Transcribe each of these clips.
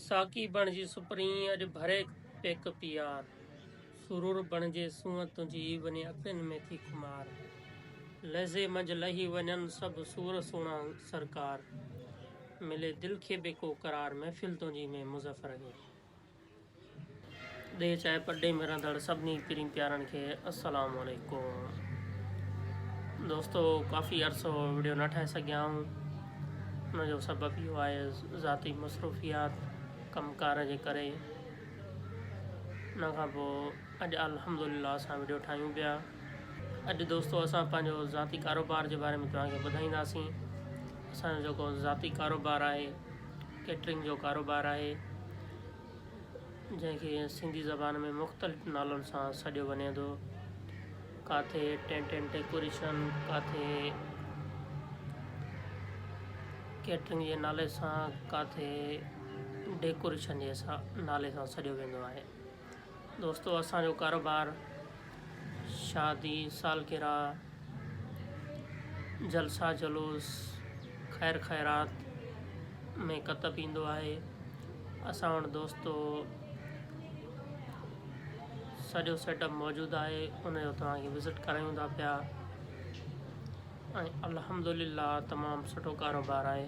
ساقي بڻجي سپرين اڄ ڀري پيڪ پيار سرور بڻجي سونهن تنهنجي وڃي اکين ۾ ٿي خمار لحظي منجهه لهي وڃن سڀ سور سهڻا سرڪار ملي دل کي به ڪو قرار محفل تنهنجي ۾ مظفر اڳي ڏيھ چاھي پرڏيھ ۾ رھندڙ سڀني پيرين پيارن کي السلام عليڪم دوستو ڪافي عرصو ويڊيو نه ٺاھي سگھيا آھون ان جو سبب اھو آھي ذاتي مصروفيات ڪم ڪار جي ڪري ان کان پوء اڄ الحمدلله اسان ويڊيو ٺاھيون پيا اڄ دوستو اسان پنهنجو ذاتي ڪاروبار جي باري ۾ توهانکي ٻڌائينداسين اسانجو جيڪو ذاتي ڪاروبار آهي ڪيٽرنگ جو ڪاروبار آهي جنهن کي سنڌي زبان ۾ مختلف نالن سان سڏيو وڃي ٿو. ڪاٿي ٽينٽ اينڊ ڊيڪوريشن، ڪاٿي ڪيٽرنگ جي نالي سان، ڪاٿي ڊيڪوريشن جي نالي سان سڏيو ويندو آهي. دوستو اسان جو ڪاروبار شادي سالگرهه جلسا جلوس خير خيرات ۾ ڪتب ايندو آهي اسان وٽ دوستو سڄو سيٽ اپ موجود آهي ان جو توهان کي وزٽ ڪرايون ٿا پيا ۽ الحمد لله تمام سٺو ڪاروبار آهي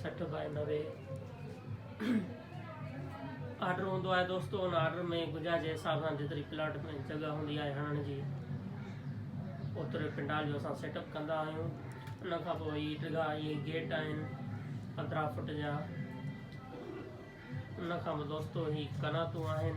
سٺ بائي نوي آرڊر هوندو آهي دوستو ان آرڊر ۾ گنجائش جي حساب سان جيتري پلاٽ ۾ جڳهه هوندي آهي هڻڻ جي اوتري پنڊال جو اسان سيٽ اپ ڪندا آهيون ان کان پوء هي ڊگها هي گيٽ آهن پندرهن فوٽ جا ان کان پوء دوستو هي قناتون آهن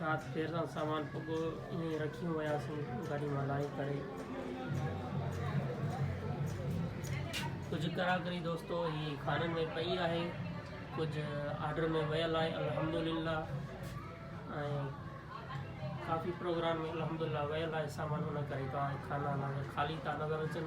رات دير سان سامان پڳو ائين ئي رکي وياسون گاڏي مان لاهي ڪري. ڪجهه ڪراڪري دوستو هي خانن ۾ پئي آهي ڪجهه آرڊر ۾ ويل آهي الحمدلله ۽ ڪافي پروگرام ۾ الحمدلله ويل آهي سامان ان ڪري کانا خالي ٿا نظر اچن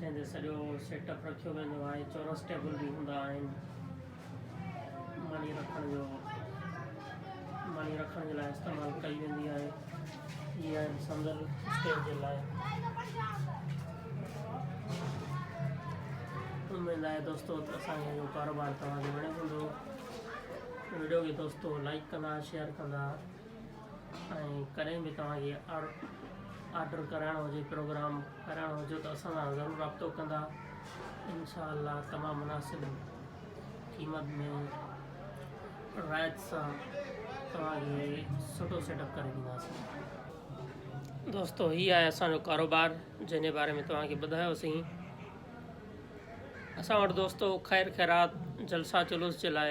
جنهن تي سڄو سيٽ اپ رکيو ويندو آهي چورس ٽيبل به هوندا آهن ماني رکڻ جو ماني رکڻ جي لاء استعمال ڪئي ويندي آهي هي آهن سندر اسٽيج جي لاء اميد آهي دوستو ته اسان جو ڪاروبار توهان کي وڻيو هوندو ويڊيو کي دوستو لائڪ ڪندا شيئر ڪندا ۽ ڪڏهن به توهان کي آرڊر ڪرائڻو هجي پروگرام ڪرائڻو هجي ته اسان سان ضرور رابطو ڪندا انشاء الله تمام مناسب قيمت ۾ رعايت سان توهان کي سٺو سيٽ اپ ڪري ڏينداسين دوستو هي آهي اسانجو ڪاروبار جنهن جي باري ۾ توهان کي ٻڌايوسين اسان وٽ دوستو خير خيرات جلسا جلوس جي لاء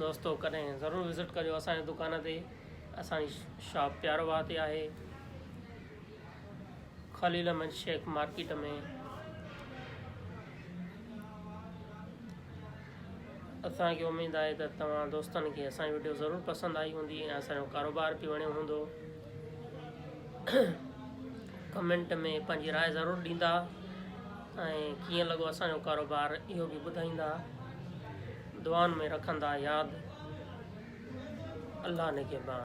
دوستو ڪڏهن ضرور وزٽ ڪجو اسان جي دڪان تي اسان جي شاپ پيارو واهه تي آهي خليل احمد شيخ مارڪيٽ ۾ اسان کي اميد آهي ته توهان دوستن کي اسان جي ويڊيو ضرور پسند آئي هوندي ۽ اسان جو ڪاروبار به وڻيو هوندو ڪمينٽ ۾ پنهنجي راء ضرور ڏيندا ۽ ڪيئن لڳو اسان جو ڪاروبار اهو به ٻڌائيندا دعائن ۾ رکندا ياد الله نگهبان.